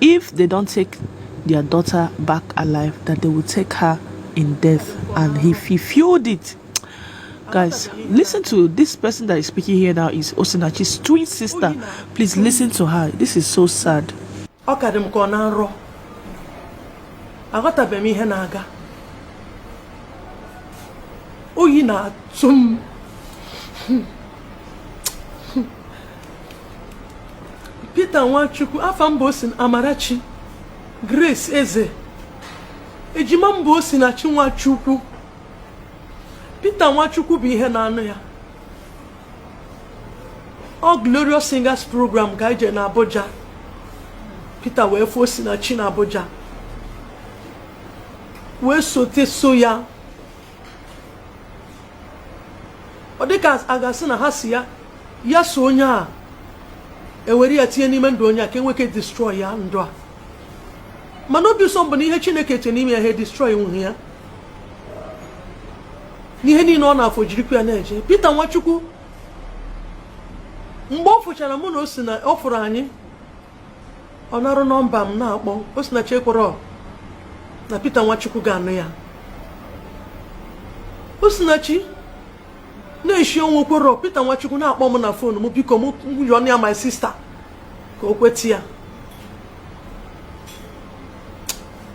If they don't take their daughter back alive, that they will take her in death. And he, he fueled it. Guys, listen to this person that is speaking here now is Osinachi's twin sister. Please listen to her. This is so sad. ọ ka dị m ka ọ na nrọ aghọtabeghị m ihe na-aga oyi na-atụ m Peter Nwachukwu afa m bụ Osi Amarachi Grace Eze ejima m bụ Osinachi Nwachukwu Peter Nwachukwu bụ ihe na-anụ ya ọ Glorious Singers program ka e je na Abuja Peter wee fụ Osinachi na Abuja wee sote so ya ọ dịka a ga-asị na ha si ya ya so onye a e were ya tinye n'ime ndụ onye a ka e nwee ike destroy ya ndụ a mana obi ụsọ m bụ na ihe Chineke tie n'ime ya ha destroy nwughị ya n'ihe niile ọ na-afụ o jirikwa ya na-eje Peter Nwachukwu mgbe ọ fụchara mụ na Osina ọ fụrụ anyị ọ narụ nọmba m na-akpọ Osinachi ekwerọ na Peter Nwachukwu ga-anụ ya Osinachi na-eshi ọnwụ o kwerọ Peter Nwachukwu na-akpọ m na fon m biko m yọọnụ ya my sista ka o kweta ya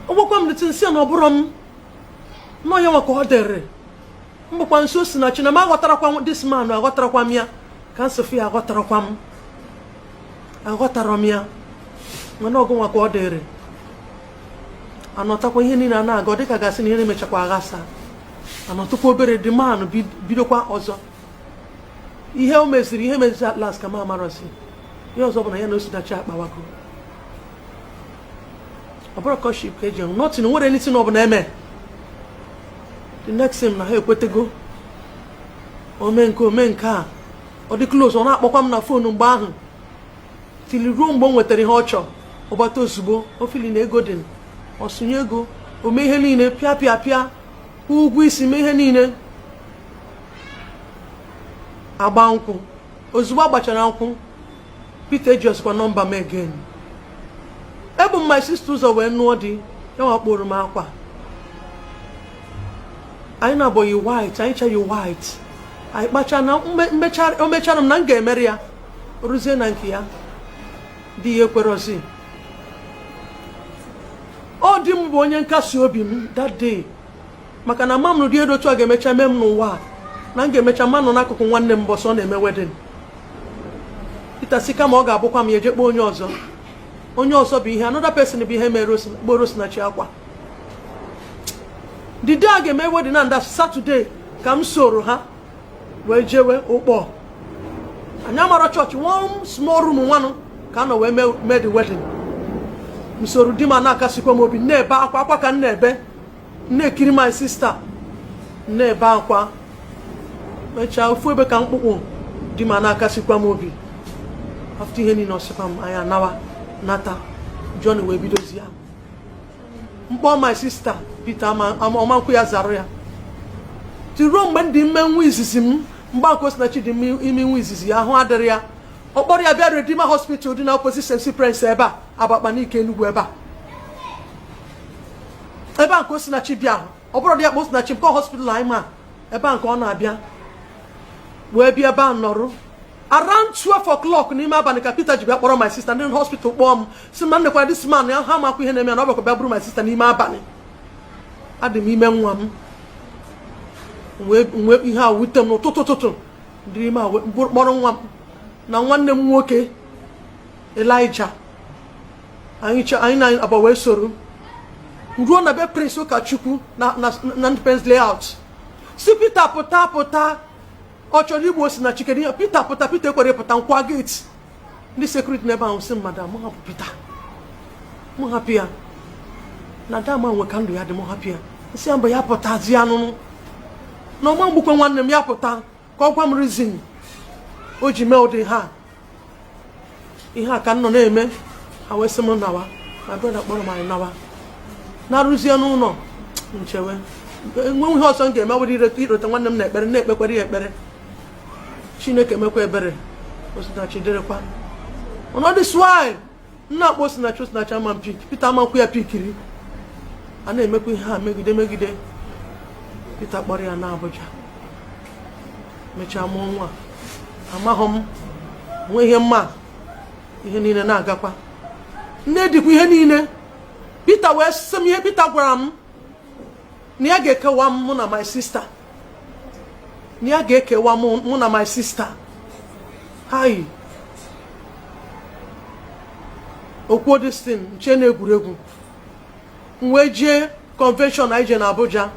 agwakwa m Peter m sị na ọ bụrọ m na ọ ya nwa ka ọ dịrị m bịakwa sị Osinachi na m aghọtarọkwa this man aghọtarọkwa m ya ka m si fụ ya aghọtarọkwa m aghọtarọ m ya mana ọ gị nwa ka ọ dịrị a nọtụkwa ihe niile a na-aga ọ dịka a ga-asị na ihe na-emechakwa aghasa a nọtụkwa obere the man ahụ bidokwa ọzọ ihe o meziri ihe o meziri at last ka m amarọzi ihe ọzọ bụ na ya na Osinachi akpawago ọ bụrọ courtship ka e ji ahụ nothing nwere anything ọ bụla e me the next thing na ha ekwetego o me nke o me nke a ọ dị close ọ na-akpọkwa m na fonu mgbe ahụ till ruo mgbe o nwetara ihe ọ chọrọ ọ gbata ozugbo o feel na ego dị ọ sụnye ego o mee ihe niile pịa pịa pịa ụgwọ isi mee ihe niile a gbaa nkwụ ozugbo a gbachara nkwụ Peter ejirọzikwa nọmba m again ebu m my sister ụzọ wee nụọ di ya nwa kporo m akwa anyị nabọ yi white anyị ncha yi white anyị kpacha na o mechara m na m ga-emere ya ruzie na nke ya di ya ekwerọzi ọ di m bụ onye nkasi obi m that day maka na ama m na ụdị ihe dị otu a ga-emecha mee m n'ụwa a na m ga-emecha ma nọ n'akụkụ nwanne m mbọsị ọ na-eme wedding Peter sị kama ọ ga-abụkwa m ya eje kpọ onye ọzọ onye ọzọ bụ ihe another person bụ ihe mere kporo Osinachi akwa the day a ga-eme wedding na that Saturday ka m soro ha wee jewe Ụkpọ anyị amarọ chọọchị one small room nwanụ ka a nọ wee mee the wedding m soro di m na-akasikwa m obi na-ebe akwa akwa ka m na-ebe na-ekiri my sister na-ebe akwa mechaa ofu ebe ka mkpụkpụ di m a na-akasikwa m obi after ihe niile ọ sịkwa m anyị nawa nata John wee bidozie m kpọọ my sister Peter ama ekwe ya zara ya tiruo mgbe m dị ime nwa izizi m mgbe a ka Osinachi dị ime nwa izizi ya ahụ adịrị ya ọ kpọrọ ya bịa Redeemer hospital dị na opposite St. Cyprian's ebe a Abakpa Nike enugwu ebe a ebe a nke osinachi bịa ọ bụrụ di ya kpọ osinachi nke hospital anyị ma ebe a nke ọ na-abịa wee bịa ebe a nọrụ around 12 o'clock n'ime abalị ka Peter ji bịa kpọrọ my sister ndị hospital kpọọ m sị na nekwa this man na ha amakwa ihe na-eme ya na ọ bịakwa bịa buru my sister n'ime abalị adị m ime nwa m wee ihe a wute m n'ụtụtụ ụtụtụ m dị ime a kpọrọ nwa m na nwanne m nwoke elija anyị chọ anyị na abụọ wee soro ruo na be prince ụkachukwu na na na independence layout sị peter pụta pụta ọ chọrọ igbu osinachi kedu ihe peter pụta peter ekwero pụta m kụwa gate ndị security n'ebe ahụ sị madam mụ hapụ peter mụ hapụ ya na dama nwe ka ndụ ya dị mụ hapụ ya m sị ya mba ya pụtazi anụnụ na ọ ma-egbukwa nwanne m ya pụta ka ọ gwa m reason o ji mee ụdị ha ihe a ka m nọ na-eme ha wee sị m nawa my brother kpọrọ m anyị nawa naruzie n'ụlọ m chewe enwe ihe ọzọ m ga-eme ọ bụrụ irota nwanne m na ekpere na-ekpekwara ya ekpere chineke mekwa ebere osinachi dịrịkwa all this while m na-akpọ osinachi osinachi ama pick Peter ama ekwe ya pikiri a na-emekwa ihe a megide megide Peter kpọrọ ya naa Abuja mechaa mụọ nwa amaghị m enwe ihe m ma ihe niile na-agakwa m na-edikwa ihe niile Peter wee sị m ihe Peter gwara m na ya ga-ekewa m mụ na my sister na ya ga-ekewa mụ na my sister hai o kwuo this thing m chee na egwuregwu m wee jee convention anyị je na Abuja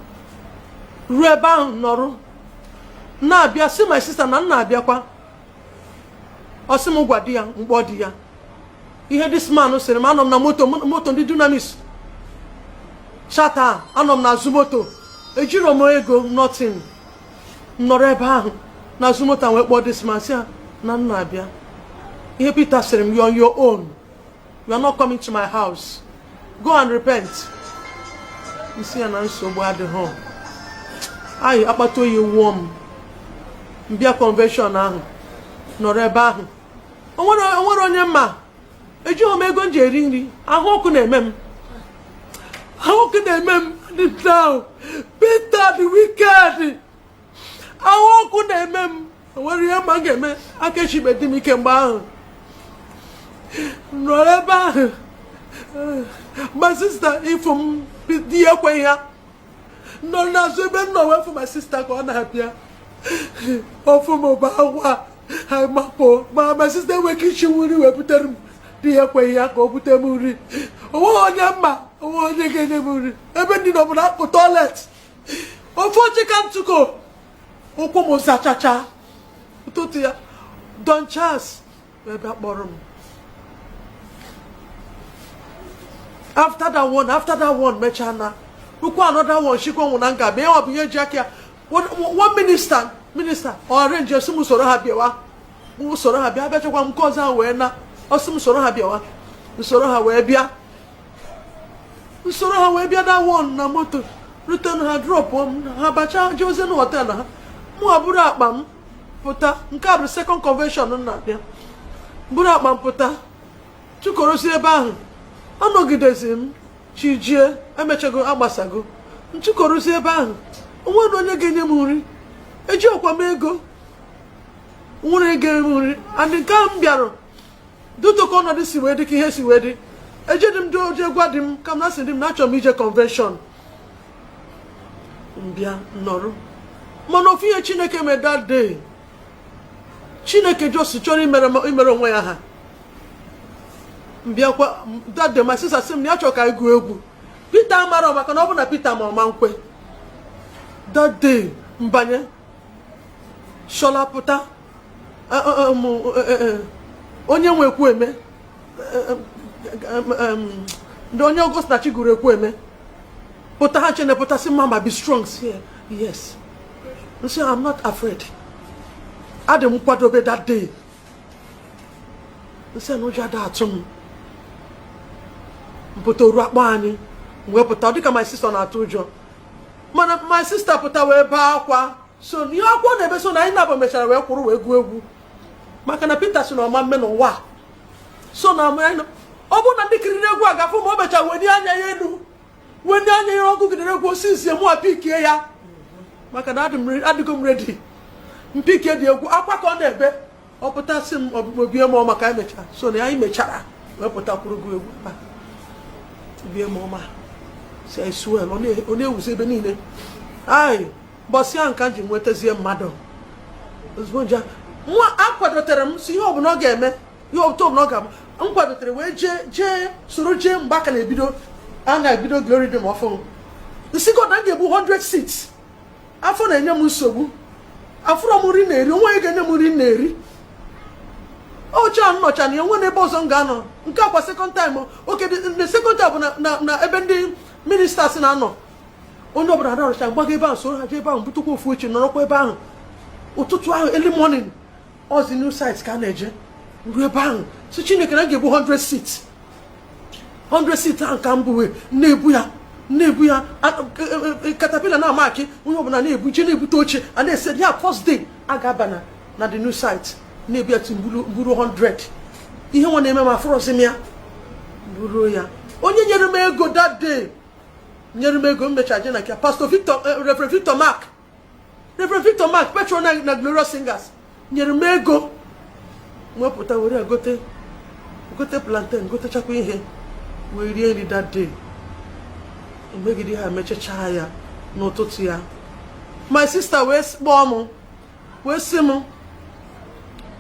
ruo ebe ahụ nọrụ na-abịa sị my sister na m na-abịakwa ọ sị m gwa di ya m kpọọ di ya ihe this man sịrị m anọ m na moto moto ndị dunamis charter anọ m n'azụ moto ejiro m ego nothing nọrọ ebe ahụ n'azụ moto wee kpọọ this man sị ya na m na-abịa ihe Peter sịrị m you're on your own you are not coming to my house go and repent m sị ya na nsogbu adịghị anyị akpata oyi wụọ m m bịa convention ahụ nọrọ ebe ahụ onwerọ onye m ma ejighị m ego m ji eri nri ahụ ọkụ na-eme m ahụ ọkụ na-eme m dị down Peter dị wicked ahụ ọkụ na-eme m onwerọ ihe m ma m ga-eme aka eshibedi m ike mgbe ahụ nọrọ ebe ahụ my sister ịfụ m di ya ekweghị ya nọ n'azụ ebe m nọ wee fụ my sister ka ọ na-abịa ọ fụ m baa akwa makpo m my sister enweghị ike ishi nri wee butere m di ya ekweghị ya ka o bute m nri onweghị onye m ma onweghị onye ga-enye m nri ebe ndị nọ bụ na akpụ toilet ofu oche ka m tukwu ụkwụ m zachacha ụtụtụ ya Don Charles wee bịa kpọrọ m after that one after that one mechaa na ukwu another one shikwa nwụ na nga ma ya ọ bụ ihe ji aka ya one minister minister ọ arrange sị m soro ha bịawa m soro ha bịa abịachakwa m nke ọzọ wee na ọ sị m soro ha bịawa m soro ha wee bịa m soro ha wee bịa that one na moto rute na ha drop m ha bacha jeezi na hotel ha mụ wa buru akpa m pụta nke a bụ second convention m na-abịa buru akpa m pụta tukwuruzi ebe ahụ anọgidezi m chi jie emechago agbasago m tukwuruzi ebe ahụ onwerọ nụ onye ga-enye m nri ejihọkwa m ego onwerọ onye ga-enye m nri and nke a m bịara due to ka ọnọdụ si wee dị ka ihe si wee dị ejedi m doje gwa di m ka m na sị di m na achọrọ m ije convention m bịa nọrụ mana ofu ihe Chineke mee that day Chineke just chọrọ imere onwe ya aha m bịakwa that day my sister sị m na ya chọrọ ka anyị gụọ egwu Peter amarọ maka na ọ bụ na Peter ma ọ ma ekwe that day mbanye shola pụta onye nwe ekwueme ndị onye Osinachi gụrụ ekwueme pụta ha chene pụta sị mama be strong sị yes m sị I'm not afraid adị m kwadobe that day m sị na ụjọ ada atụ m m pụta o ruo a kpọọ anyị wee pụta ọ dịka my sister na-atụ ụjọ mana my sister pụta wee baa akwa so ihe akwa ka ọ na-ebe so na anyị na-abụ mechara wee kwụrụ wee gụọ egwu maka na Peter sị na ọ ma eme n'ụwa so na ọ bụrụ na ndị kiriri egwu a ga-afụ na o mechara wenie anya ya elu wenie anya ya ọ gụgidere egwu osisi mụ apikie ya maka na adịgo m ready m pikie di egwu akwa ka ọ na-ebe ọ pụtasị m ọbụbụ bie m ọma ka anyị mechara so na anyị mechara wee pụtakwuru gụọ egwu ebe bie m ọma si anyị suel ọ na-ewuzi ebe niile anyị mbọsị ahụ ka m ji nwetazie mmadụ ozugbo nje nwa akwadotere m si ihe ọbụla ọ ga-eme ihe ọbụla ọbụla ọ ga-ama m kwadotere wee jee jee soro jee mgbe a ka na-ebido a na-ebido Glory Dome ọfụụ m sị God na m ga-ebu 100 seats afọ na-enye m nsogbu afụrọ m nri na-eri o nwee onye ga-enye m nri na-eri oche a m nọcha na ya o nwee n'ebe ọzọ m ga-anọ nke a kwa second time okay the second time bụ na ebe ndị ministers na-anọ onye ọbụla na-arush m gbaga ebe ahụ so ha jee ebe ahụ butekwa ofu oche nọrọkwa ebe ahụ ụtụtụ ahụ early morning ọzi new site ka a na-eje ruo ebe ahụ sị Chineke na m ga-ebu 100 seats 100 seats ahụ ka m buwe na-ebu ya na-ebu ya caterpillar na-ama akị onye ọbụla na-ebu je na-ebute oche a na-ese ya first day a ga-aba na na the new site na-ebu ya till m buru 100 ihe nwa na-eme m afụrọzi m ya bụrụ ya onye nyere m ego that day nyere m ego m mecha je na nke Pastor Victor Reverend Victor Mark Reverend Victor Mark patron na Glorious Singers nyere m ego m wepụta were gote gote plantain gotechakwa ihe wee rie nri that day emegide ihe a emechachaa ya n'ụtụtụ ya my sister wee kpọọ m wee sị m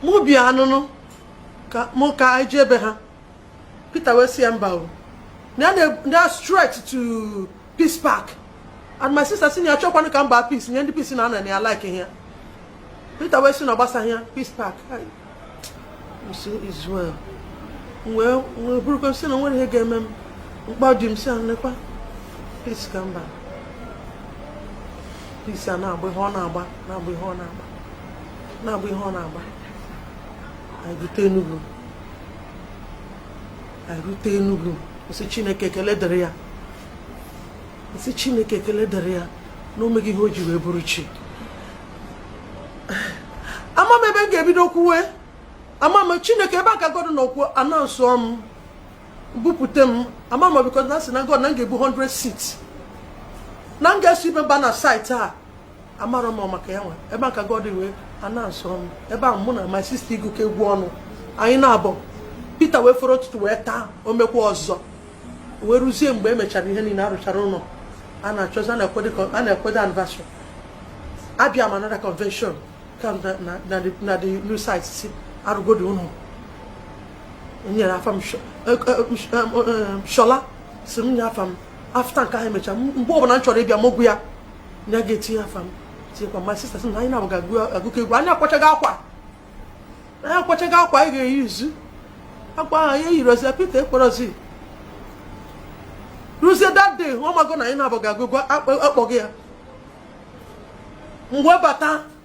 mụ bịanụnụ ka mụ ka anyị jee be ha Peter wee sị ya mba o na straight to peace park and my sister sị na ya chọkwanụ ka m baa peace nye ndị peace na ana na ya like ya Peter wee sị na ọ gbasaghị ya peace park m sị is well wee wee burukwa m sị na o nwere ihe ga-eme m mkpa dị m si anekwa peace ka m ba peace a na-agba ihe ọ na-agba na-agba ihe ọ na-agba na-agba ihe ọ na-agba anyị rute Enugu erute Enugu m sị Chineke ekele dịrị ya m sị Chineke ekele dịrị ya na o mego ihe o ji wee bụrụ chi ama m ebe m ga-ebido kwuwe ama m Chineke ebe a ka God nọkwu announce m bupute m ama m because na sị na God na m ga-ebu 100 seats na m ga-eso ibe m ba na site a amarọ m maka ya nwa ebe a ka God wee announce m ebe ahụ mụ na my sister agụkọ egwu ọnụ anyị naabọ Peter wee foro ụtụtụ wee taa o mekwa ọzọ wee ruzie mgbe emechara ihe niile arụchara ụlọ a na-achọzi a na-akwado anniversary abịa m another convention ka na the new site si arụgodo ụlọ nyere afa m shola si m nye afa m after nke ahụ emechara mgbe ọbụla m chọrọ ịbịa m agwa ya na ga-etinye afa m tinyekwa my sister sị na anyị naabọ ga-agụkọ egwu anyị akwachago akwa anyị akwachago akwa anyị ga-eyizi akwa ahụ anyị eyirozi Peter ekwerozi ruzie that day ọ mago na anyị naabọ ga-agụ egwu akpọghị ya mgbe bata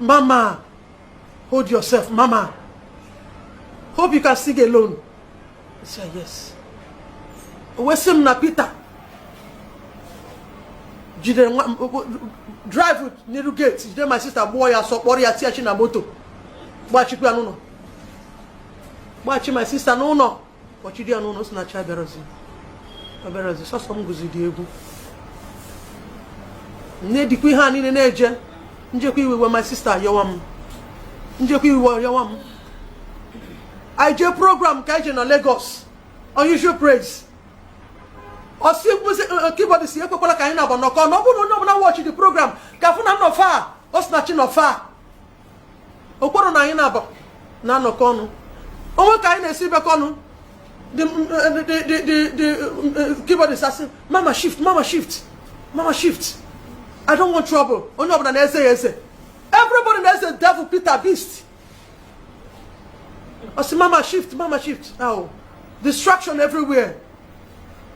Mama, hold yourself, Mama. Hope you can sing alone. I said, yes. O wee sị m na Peter jidere nwa drive n'iru gate jide my sister gbụọ ya asọ kpọrọ ya tiachi na moto gbachikwa n'ụlọ gbachi my sister n'ụlọ kpọchiri ya n'ụlọ Osinachi abịarozi abịarozi sọsọ m gụziri egwu na-edikwa ihe a niile na-eje m jekwa iwe my sister yọwa m m jekwa iwe yọwa m anyị jee program ka anyị jee na Lagos unusual praise ọ sị keyboardist ekwekwala ka anyị naabọ nọkọ ọnụ ọ bụrụ na onye ọbụla watch the program ka fụ na m nọ fa Osinachi nọ fa o kwerọ na anyị naabọ na-anọkọ ọnụ o nwe ka anyị na-esi bekọ ọnụ the the the the the uh, keyboardist asị mama shift mama shift mama shift i don't want trouble onye ọbụla na-eze ya eze everybody na-eze devil peter beast ọ sị mama shift mama shift now distraction everywhere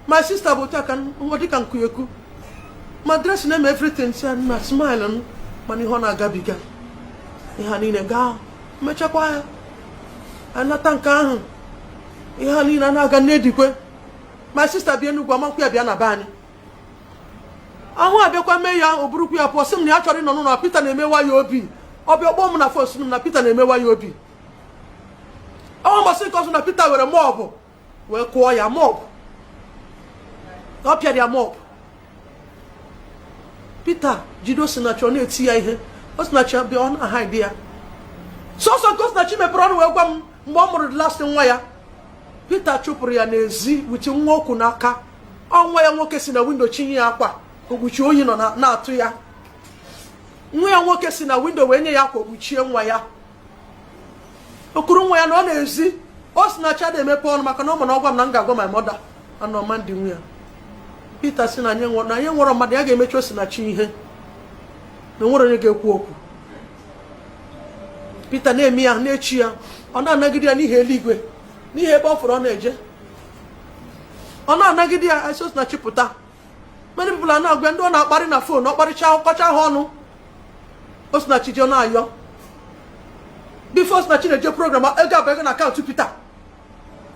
my sister bụ aka nwa dịka nkuyeku ma dress na-eme everything si na smile m mana ihe ọ na-agabiga ihe niile gaa mechakwa ya anata nke ahụ ihe niile na-aga na-edikwa my sister bịa Enugu ọ ma-ekwe ya bịa na be anyị ahụ abịakwa mee ya o burukwa ya pụọ sị m na ya achọrọ ịnọ n'ụlọ Peter na-emewa ya obi ọ bịa kpọọ m na phone sị m na Peter na-emewa ya obi ọ mbọsị nke ọzọ na Peter were mop wee kụọ ya mop ọ pịara ya mop Peter jide osinachi ọ na-eti ya ihe osinachi bịa ọ na-hide ya sọsọ nke osinachi mepere ọnụ wee gwa m mgbe ọ mụrụ last nwa ya Peter chụpụrụ ya n'ezi with nwa o ku n'aka ọ nwa ya nwoke si na window chịnye ya akwa o kpuchie oyi nọ na-atụ ya nwa ya nwoke si na window wee nye ya akwa o kpuchie nwa ya o kuru nwa ya nọ n'ezi Osinachi ada emepe ọnụ maka na ọ ma na ọ gwa m na m ga-agwa my mother anụ ma ndị nwe ya Peter sị na anyị nwerọ mmadụ ya ga-emechi Osinachi ihe na o nwerọ onye ga-ekwu okwu Peter na-eme ya na-echi ya ọ na-anagide ya n'ihi eluigwe n'ihi ebe ọ fụrụ ọ na-eje ọ na-anagide ya Osinachi pụta many people are na-agwa ndị ọ na-akparị na phone ọ kparịcha ọ kọcha ha ọnụ osinachi eje na-ayọ before osinachi na-eje program ego abago na account peter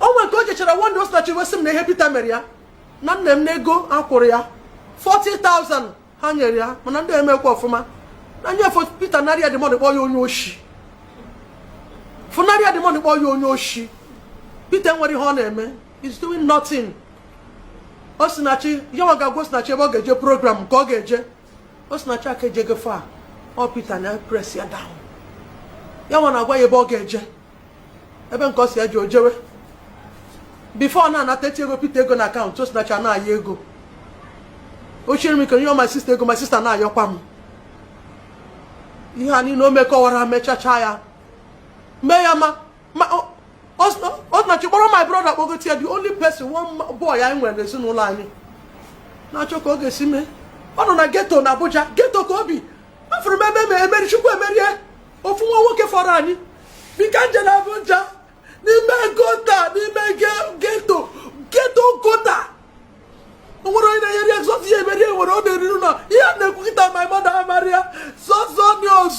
o nwere nke o jechara one day osinachi wee sị m na ihe peter mere ya na nne m na ego a kwụrụ ya 40,000 ha nyere ya mana ndị a emekwa ọfụma na nye peter nara ya the money kpọọ ya onye oshi pụnara ya the money kpọọ ya onye oshi peter nwere ihe ọ na-eme he's doing nothing osinachi yawa ga-agwa osinachi ebe ọ ga-eje program ka ọ ga-eje osinachi aka eje gefe a ọ peter na-press ya down yawa na-agwa ya ebe ọ ga-eje ebe nke ọ sị ya jee o jewe before ọ na-anata etiego peter ego na account osinachi a na-ayọ ego o shiri m ike nye my sister ego my sister na-ayọkwa m ihe a niile o mekwara mechachaa ya mee ya ma ma osinachi kpọrọ my brother kpọgote ya the only person one boy anyị nwere n'ezinụlọ anyị na-achọ ka ọ ga-esi mee ọ nọ na ghetto na Abuja ghetto ka o bi afụrụ m ebe ma emerie chukwuemerie ofu nwa nwoke fọrọ anyị bi ka m je na Abuja n'ime gutter n'ime ghetto ghetto gutter o nwere onye na-enyere ya zọzi ya emerie nwere ọ na-eriri ụlọ ihe a na-ekwu kịta my mother amarịa zọzọ news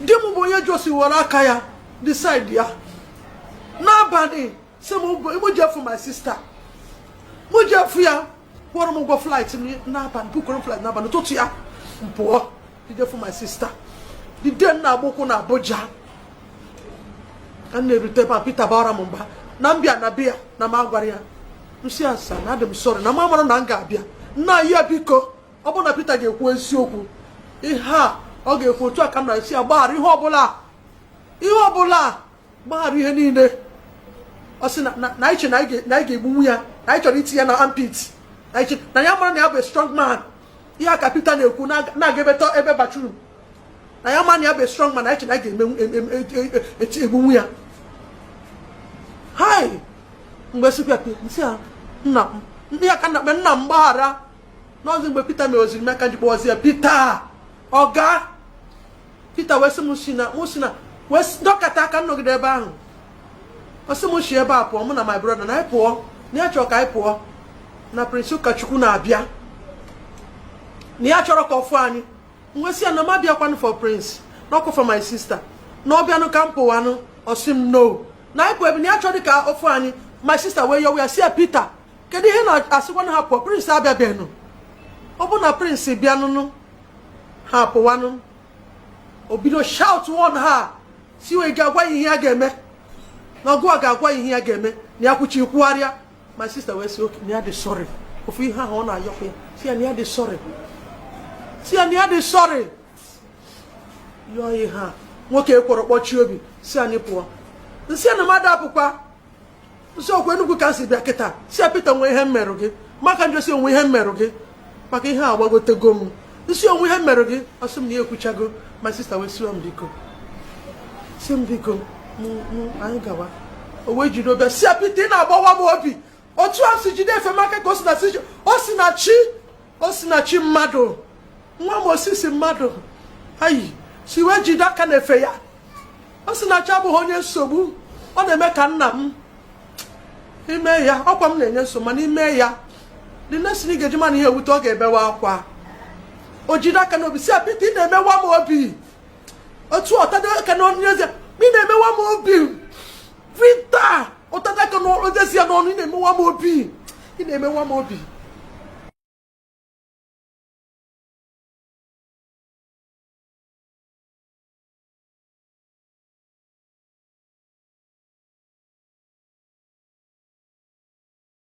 di m bụ onye just were aka ya decide ya n'abalị sị mụ jee fụ my sister mụ jee fụ ya kwụọrọ m ụgwọ flight n'abalị bookuoro m flight n'abalị ụtụtụ ya m pụọ jee fụ my sister the day m na-agba ụkwụ na Abuja ka m na-erute ma Peter bara m mba na m bịa na be ya na m agwara ya m sị ya sir na adị m sorry na m amara na m ga-abịa na ya biko ọ bụrụ na Peter ga-ekwu eziokwu ihe a ọ ga-ekwu otu a ka m na-asị ya gbaghara ihe ọbụla ihe ọbụla gbaghara ihe niile ọ sị na i che na anyị ga-egbunwu ya na anyị chọrọ iti ya na armpit na ya mara na ya bụ strong man ihe a ka Peter na-ekwu na-aga ebe ebe bathroom na ya mara na ya bụ strong man na i che na anyị ga-egbunwu ya hai m wee sịkwa sị ya nna m ndị ya ka nna nna m gbaghara n'ọzi mgbe Peter mere o zuru m ka m ji kpọzi ya Peter ọga Peter wee sị m si na mụ si na wee dọkata aka m nọgide ebe ahụ ọ sị m si ebe a pụọ mụ na my brother na anyị pụọ na ya chọrọ ka anyị pụọ na Prince Ụkọchukwu na-abịa na ya achọrọ ka ọ fụ anyị m wee sị ya na m abịakwanụ for Prince na ọ kwa for my sister na ọ bịanụ ka m pụwanụ ọ sị m no na anyị pụọ ebe na ya chọrọ ka ọ fụ anyị my sister wee yọwa ya sị ya Peter kedu ihe na-asịkwa na ha pụọ Prince abịabeghị ọ bụ na Prince bịanụnụ ha pụwanụ o bido shout one ha si wee ga-agwa ya ihe ya ga-eme na ọ gụwa ga-agwa ya ihe ya ga-eme na ya kwuchi kwugharịa my sister wee sị okay na ya dị sorry ofu ihe ahụ ọ na-ayọkwa ya sị ya na ya dị sorry sị ya na ya dị sorry yọọ ihe a nwoke ekwerọ kpọchie obi sị anyị pụọ m sị na mmadụ apụkwa m sị ọkwa Enugwu ka si bịa kịta sị ya Peter o nwe ihe m merụ gị maka njosi o nwe ihe m merụ gị maka ihe a gbagotego m isi o nwe ihe m merụ gị ọ sị m na ya ekwuchago my sister wee sịwa m biko sị m biko anyị gawa o wee jide obi ya sị ya Peter ị na-agbawa m obi otu a si jide efe maka ka Osinachi Osinachi mmadụ nwa m osisi mmadụ ayi si wee jide aka n'efe ya Osinachi abụghị onye nsogbu ọ na-eme ka nna m i mee ya ọkwa m na-enye nsogbu mana i mee ya the next thing ị ga-eji ma na ihe wute ọ ga-ebewe akwa o jide aka n'obi sị ya Peter ị na-emewa m obi otu ọ tado aka n'ọnụ eze ị na-emewa m obi Peter ọ tado aka n'ọnụ eze sị ya n'ọnụ ị na-emewa m obi ị na-emewa m obi